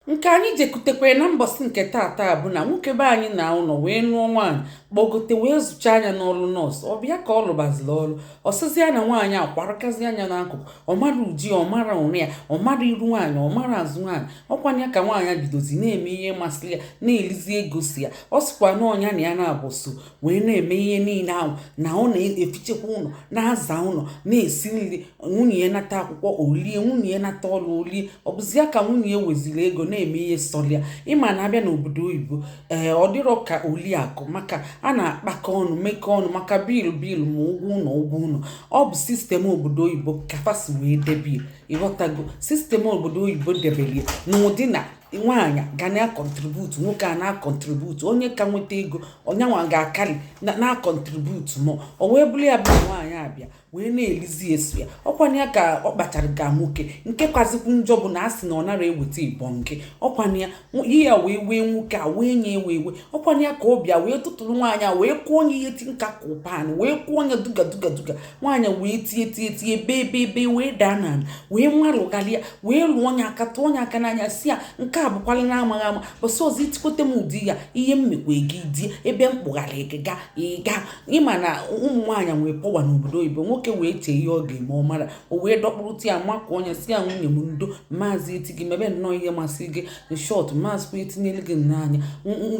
nke anyị jekutekwere na mbọsị nke taata bụ na nwoke be anyị naa ụlọ wee nụọ nwaanyị kpọgote wee zụchaa nya n'ọlụ nọọsụ ọ bịa ka ọ lụbaziri ọlụ ọ sịzi ya na nwaanyị akwarakazi anya n'akụkụ ọ mara uje ya ọ mara ụla ya ọ mara iru nwaanyị ọ mara azụ nwaanyị ọ kwa nya ka nwaanyị bidozi na-eme ihe masịrị ya na-elizi ego sọ ya ọ sịkwa na ọ nya na ya na-agba ọsọ wee na-eme ihe niile ahụ na ọ na-efichekwa ụlọ na-aza ụlọ na-esi nri nwunye ya nata akwụkwọ o lie nwunye ya nata ọrụ o lie ọ bụzi ya ka nwunye ya weziri ego na-eme ihe sọlị ya ị ma na a bịa n'obodo oyibo ee eh, ọ dịrọ ka oliakụ maka a na-akpakọ ọnụ mekọ ọnụ maka bill bill ma ụgwọ ụlọ ụgwọ ụlọ ọ bụ system obodo oyibo ka fa si wee debe ya ị ghọtago system obodo oyibo debere ya n'ụdị na nwaanyị ga na-akọntributu nwoke a na-akọntributu onye ka nweta ego onye anwa ga-akarị na-akọntributu more o wee bụrụ ya bụ nwaanyị abịa wee na-elizi sọ ya ọ kwa nya ka ọ kpachara ga nwoke nke kazikwu njọ bụ na a sị na ọ nara eweta ịbọ nke ọ kwa nya ihe a wee wee nwoke a wee nya ewe ewe ọ kwa nya ka ọ bịa wee tụtụrụ nwaanyị a wee kụọ nya ihe ti nka kụpan wee kụọ nya duga duga duga nwaanyị wee tie tie tie bee bee bee wee daa n'ana wee nwarụgharịa wee lụọ nya aka tụọ nya aka n'anya sị ya nke a bụkwala na amaghị ama bọsị ọzọ i tikwete m ụdị ya ihe m mekwa gị i die ebe m kpụgharị gị ga ị ga ị ma na ụmụ nwaanyị nwee power n'obodo oyibo nwoke wee chee ihe ọ ga-eme ọ mara o wee dọkpụrụta ya makụọ nya sị ya nwunye m ndo m mazị eti gị mebe nnọọ ihe masị gị in short m mazịkwa etinyere gị nnọọ anya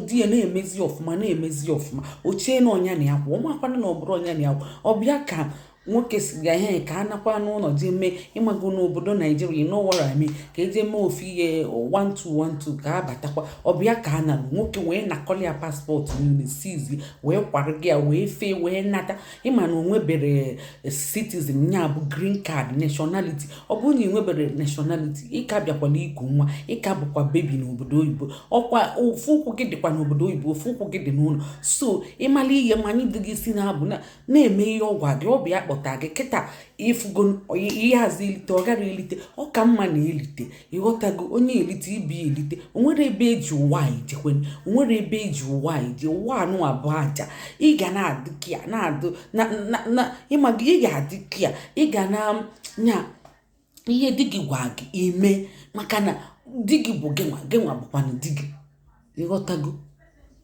di ya na-emezi ọfụma na-emezi ọfụma o chie na ọ nya na ya kwụ ọ makwana na ọ bụrọ nya na ya kwụ ọ bịa ka nwoke sị ga ihe ka a nakwa n'ụlọ jee mee ị mago n'obodo naijiria you know what I mean ka e jee mee ofu ihe 1212 ka a batakwa ọ bịa ka a nalụ nwoke wee nakọli ya passport niile seize wee kwarụ gị ya wee fee wee nata ị ma na o nwebere eh, citizen ya bụ green card nationality ọ bụrụ na ị nwebere nationality ị ka bịakwala iku nwa ị ka bụkwa baby n'obodo oyibo ọ kwa ofu ụkwụ gị dịkwa n'obodo oyibo ofu ụkwụ gị dị n'ụlọ so ị mala ihe manye di gị isi n'abụ na-eme ihe ọ gwa gị ọ bụ ya kpọta gị kịta i fugo ihe a sị elite ọ gara elite ọ ka mma na elite ị ghọtago onye elite ibe ya elite o nwere ebe e ji ụwa ejekwe o nwere ebe e ji ụwa eje ụwa anụnwa bụ aja ị ga na-adị kia na-adụ na na ị mago ị ga-adị kia ị ga na nya ihe di gị gwa gị i mee maka na di gị bụ gịnwa gịnwa bụkwanụ di gị ị ghọtago